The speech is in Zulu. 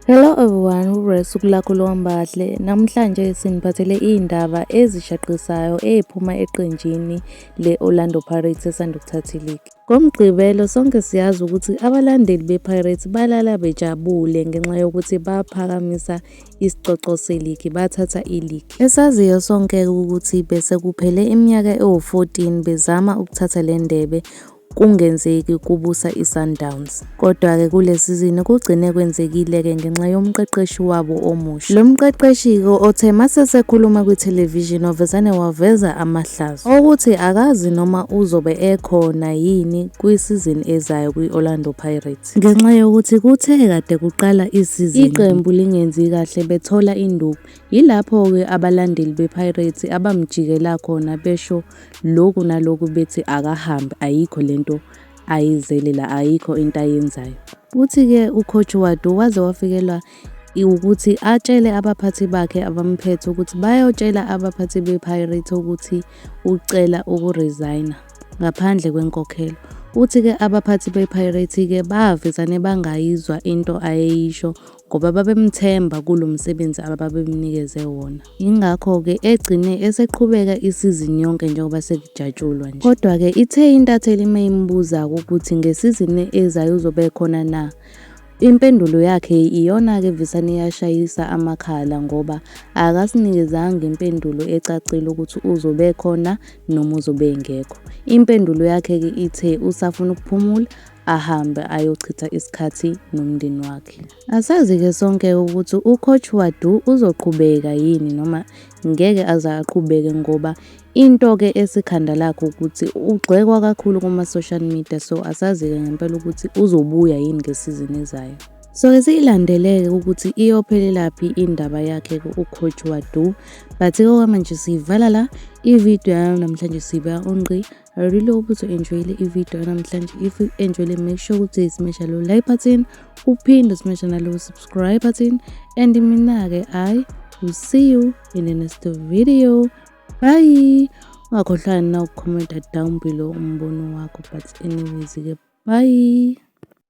Hello everyone, uResuku lakho lowaMbahle. Namhlanje siniphathele iy'ndaba ezishaqisayo ey'phuma eqenjini le-Orlando Pirates esanda ukuthatha iligi. NgoMgqibelo sonke siyazi ukuthi abalandeli bePirates balala bejabule ngenxa yokuthi baphakamisa isicoco seligi bathatha iligi. Esaziyo sonke ukuthi bese kuphele iminyaka ewu-14 bezama ukuthatha le ndebe kungenzeki kubusa iSundowns. Kodwa-ke kule sizini kugcine kwenzekile-ke ngenxa yomqeqeshi wabo omusha. Lo mqeqeshi-ke othe masesekhuluma kwithelevishini wavezane waveza amahlazo okuthi akazi noma uzobe ekhona yini kwisizini ezayo kwi-Orlando Pirates. Pirates ngenxa yokuthi kuthe kade kuqala isizini iqembu lingenzi kahle bethola induku. Yilapho-ke abalandeli bePirates abamjikela khona besho loku naloku bethi akahambe ayikho lento ayizele la ayikho into ayenzayo. Uthi-ke uCoach Wadu waze wafikelwa ukuthi atshele abaphathi bakhe abamphethe ukuthi bayotshela abaphathi bePirates ukuthi ucela ukuresigner. ngaphandle kwenkokhelo. Uthi ke abaphathi bePirates ke baveza nebangayizwa into ayeyisho ngoba babemthemba kulo msebenzi ababemnikeze wona. Yingakho-ke egcine eseqhubeka isizini yonke njengoba sekujatshulwa nje. Kodwa-ke ithe intatheli uma imbuza-ko ukuthi ngesizini ezayo uzobe ekhona na, Impendulo yakhe iyona-ke Visani iyashayisa amakhala ngoba akasinikezanga impendulo ecacile ukuthi uzobe khona noma uzobe engekho. Impendulo yakhe-ke ithe usafuna ukuphumula ahambe ayochitha isikhathi nomndeni wakhe. Asazi-ke sonke ukuthi uCoach Wadu uzoqhubeka yini noma ngeke aze aqhubeke ngoba Into ke esikhanda lakho ukuthi ugxekwa kakhulu kuma social media so asazi ke ngempela ukuthi uzobuya yini ngesizini ezayo. So ke siyilandeleke ukuthi iyophelelaphi indaba yakhe ku coach Wadu but ke okwamanje siyivala la ivideo yayo namhlanje siyiba ongqi I really hope ukuthi enjoyile ivideo namhlanje if you enjoyile make sure ukuthi simesha lo like button uphinde simesha nalo subscribe button and mina ke I will see you in the next video Bye. Ungakhohlwa na ukukhomenta down below umbono wakho but anyways ke bye.